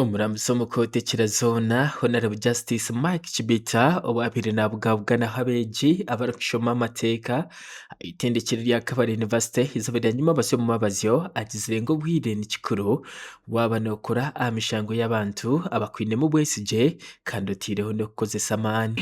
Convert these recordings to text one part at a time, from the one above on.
Omuramuzi omu kooti ekira zoona Honarebo Justice Mike Chibita owaabaire nabugabuganaho abeegi abarikushoma amateeka aha itendekero rya Kabale University eizooba rya nyuma batsya omu mabazyo agizire ngu obwire ni kikuru waaba nookora aha mishango y'abantu abakwinemu obwesigye kandi oteireho n'okukozesa amaani.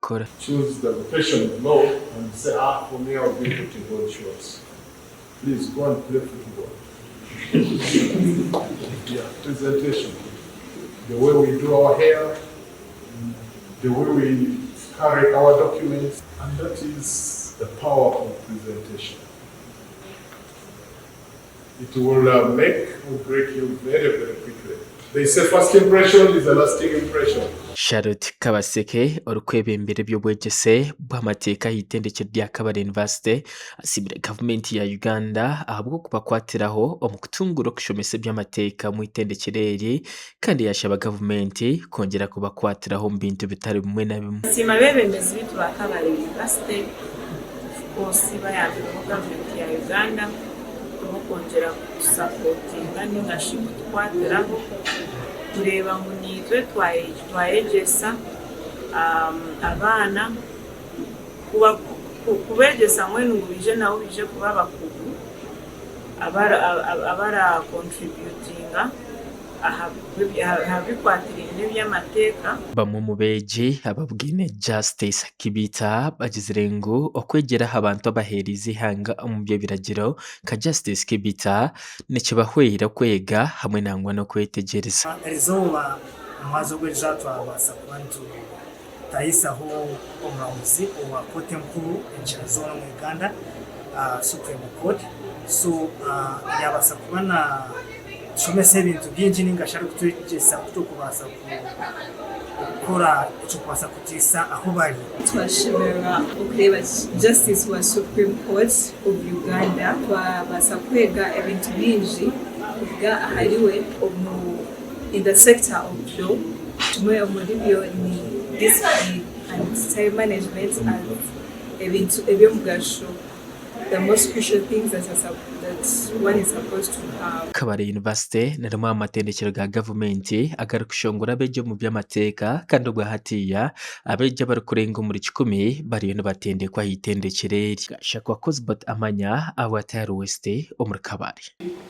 kukora. It will make u break you very very quickly. They say first impression is a lasting impression. Charlotte Kabaseke orikwebembera eby'obwegyese bw'amateeka aha itendekero rya Kabale University asiimire gavumenti ya Uganda ahabw'okubakwatiraho omu kutunguura okushomesa eby'amateeka omu itendekero eri kandi yaashaba gavumenti kwongyera kubakwatiraho omu bintu bitari bimwe na bimwe. Nsiima abeebembezi beitu ba Kabale University of course bayambireho gavumenti ya Uganda ahabw'okwongyera kutusapootinga nainga shi kutukwatiraho kureeba ngu naitwe twayegyesa abaana kubeegyesa mbwenu ngu baije nabo baije kuba abakugu. abaraakontributinga aha bikwatiraine n'eby'amateeka. Bamwe omu beegi ababwine Justice Kibita bagizire ngu okwegyera aha bantu abaheereize eihanga omu by'ebiragiro nka Justice Kibita nikibahwera kwega hamwe nangwa n'okwetegyereza. Tayisaho omuramuzi owa kooti enkuru enkira zoona omu Uganda, Supreme Court, so yaabaasa kuba naatushomesa ebintu bingi nainga shi arikutwegyesa ku turikubaasa kukora ekirikubaasa kutaisa ahu bari. Twashemererwa okureeba Justice wa Supreme Court of Uganda, twabaasa kwega ebintu bingi kuruga ahariwe. In the sector of law, kimwe omuri byo ni discipline and time management and ebintu eby'omugasho, the most crucial things that are sup that one is supposed to have. Kabale University ni rimwe aha matendekero ga gavumenti agarikushongora abeegi omu by'amateeka kandi obwa hatiiya abeegi abarikurenga omuri kikumi bariyo nibatendekwa aha itendekyero eri. Gashakwa Cosbert Amanya, Abu Atayar West, omuri Kabale.